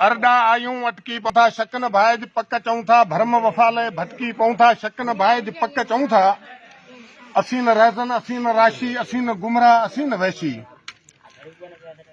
ارڏا آيون اٽڪي پئون ٿا شڪ نه ڀائج پڪ چئون ٿا ڀرم وفا لئي ڀٽڪي پئون ٿا شڪ نه ڀائج پڪ چئون ٿا اسين نه رهزن اسين نه راشي اسين نه گمراهه اسين نه وحشي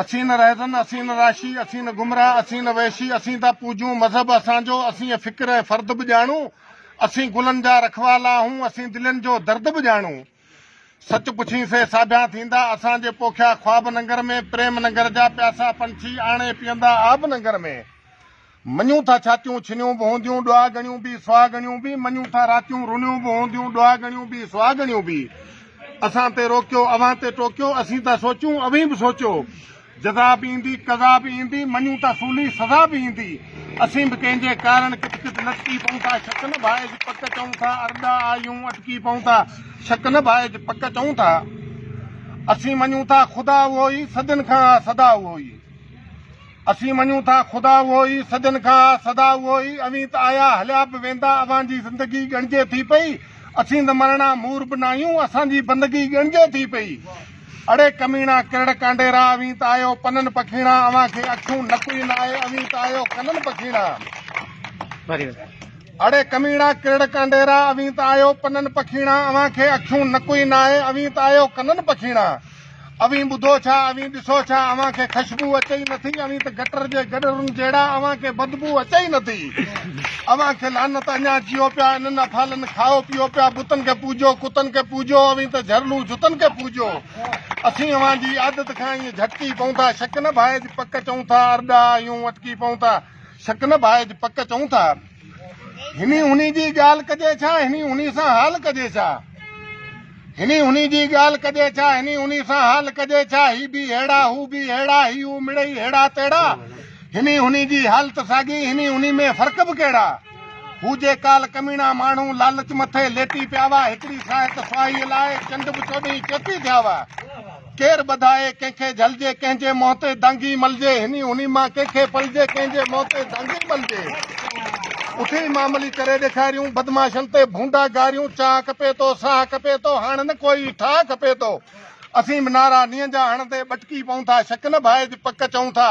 اسين نه رهزن اسين نه راشي اسين نه گمراهه اسين نه وحشي اسين ٿا پوجون مذهب اسان جو اسين فڪر ۽ فرد به ڄاڻون اسين گلن جا رکوالا آهون اسين دلين جو درد به ڄاڻون سچ پڇين سي ساڀيان ٿيندا اسان جي پوکيا خواب ننگر ۾، پريم ننگر جا پياسا پنڇي آڻي پيئندا آب ننگر ۾، مڃون ٿا ڇاتيون ڇنيون به هونديون ڏوها ڳڻيون به سوها ڳڻيون به، مڃون ٿا راتيون رنيون به هونديون ڏوها ڳڻيون به سوها ڳڻيون به، اسان تي روڪيو اوهان تي ٽوڪيو اسين ٿا سوچون اوهين به سوچيو، جزا به ايندي، قضا به ايندي، مڃون ته سولي سزا به ايندي. اسين به ڪنهن جي ڪارڻ ڪٿ ڪٿ لٽڪي پئون ٿا، شڪ نه ڀائج پڪ چئون ٿا، ارڏا آهيون اٽڪي پئون ٿا، شڪ نه ڀائج پڪ چئون ٿا. اسين مڃون ٿا خدا اهو ئي، صدين کان آ سدا اهو ئي. اسين مڃون ٿا خدا اهو ئي، صدين کان آ سدا اهو ئي. اوهين ته آيا هليا به ويندا، اوهان جي زندگي ڳڻجي ٿي پئي. اسين ته مرڻا مور به ناهيون، اسان جي بندگي ڳڻجي ٿي پئي. اڙي ڪميڻا ڪرڙ ڪانڊيرا اوهين ته آهيو پنن پکيڻا اوهان کي اکيون نڪ ئي ناهي اوهين ته آهيو ڪنن پکيڻا اڙي ڪميڻا ڪرڙ ڪانڊيرا اوهين ته آهيو پنن پکيڻا اوهان کي اکيون نڪ ئي ناهي اوهين ته آهيو ڪنن پکيڻا اوهين ٻڌو ڇا اوهين ڏسو ڇا اوهان کي خشبو اچي ئي نٿي اوهين ته گٽر جي گڏرن جهڙا اوهان کي بدبو اچي ئي نٿي. اوهان کي لعنت اڃا جيئو پيا انهن افعالن کائو پيئو پيا بتن کي پوڄو ڪتن کي پوڄو اوهين ته جهرلون جتن کي پوڄو اسين اوهان جي عادت کان ائين جهٽڪي پئون ٿا شڪ نه ڀائج پڪ چئون ٿا ارڏا آهيون اٽڪي پئون ٿا شڪ نه ڀائج پڪ چئون ٿا هني هني جي ڳالهه ڪجي ڇا هني هني سان حال ڪجي ڇا هني هني جي ڳالهه ڪجي ڇا هني هني سان حال ڪجي ڇا هي به هيڙا هو به هيڙا هي هو مڙئي هيڙا تيڙا هني هني جي حالت ساڳي، هني هني ۾ فرق به ڪهڙا؟ هو جي ڪال ڪميڻا ماڻهو لالچ مٿي ليٽي پيا هئا، هڪڙي ساهت سوائيء لاء چنڊ به چوڏهين چيتي ٿيا هئا. ڪير ٻڌائي ڪنهن کي جهلجي، ڪنهن جي منهن تي دانگي ملجي، هني هني مان ڪنهن کي پلجي، ڪنهن جي منهن تي دانگي ملجي. اٿي معاملي ڪري ڏيکاريون، بدمعاشن تي ڀونڊا گاريون، چاهه کپي ٿو، ساهه کپي ٿو، هاڻ نه ڪوئي ٺاهه کپي ٿو. اسين به نعرا نينهن جا هڻندي ٻٽڪي پئون ٿا، شڪ نه ڀائج، پڪ چئون ٿا.